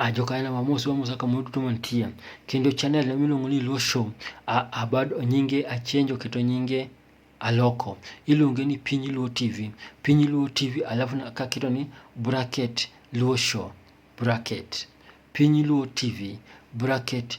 Ah, jokanyo wamosi wamosa kamoro duto mantie kendo channel na miluongo ni Luo Show abad nyinge achenjo keto nyinge aloko iluonge ni Piny Luo TV Piny Luo TV alafu akaketo ni bracket Luo Show bracket Piny Luo TV bracket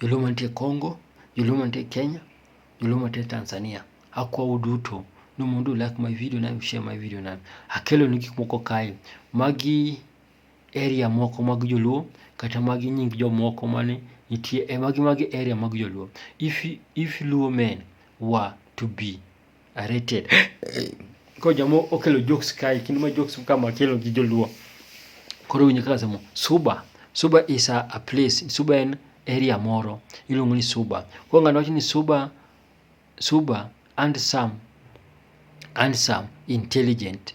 joluo mantie Congo, joluo mantie Kenya, joluo mantie Tanzania. Akwa uduto ni mondo u like my video na u share my video na. Akelo ni gik moko kae. Magi area moko mag joluo kata magi nying jomoko mane nitie e magi magi area mag joluo. If, if luo men were to be Arete. Koro jamoo okelo jokes kae kendo ma jokes ka ma kelo gi joluo. Koro winjo kaka asemo suba. Suba is a, a place. Suba en area moro iluongo ni suba. Koro ng'ano wacho ni suba, suba and some, and some intelligent.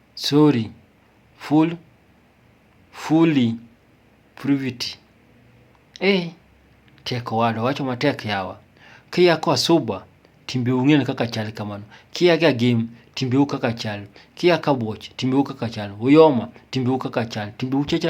Sorry, full, fully, privity. Eh, tek owadwa, wacho matek yawa. Kia kwa suba, timbe ung'en kaka chal kamano. Kia ga game, timbe u kaka chal. Kia ka watch, timbe u kaka chal. Uyoma, timbe u kaka chal. Timbe u chacha.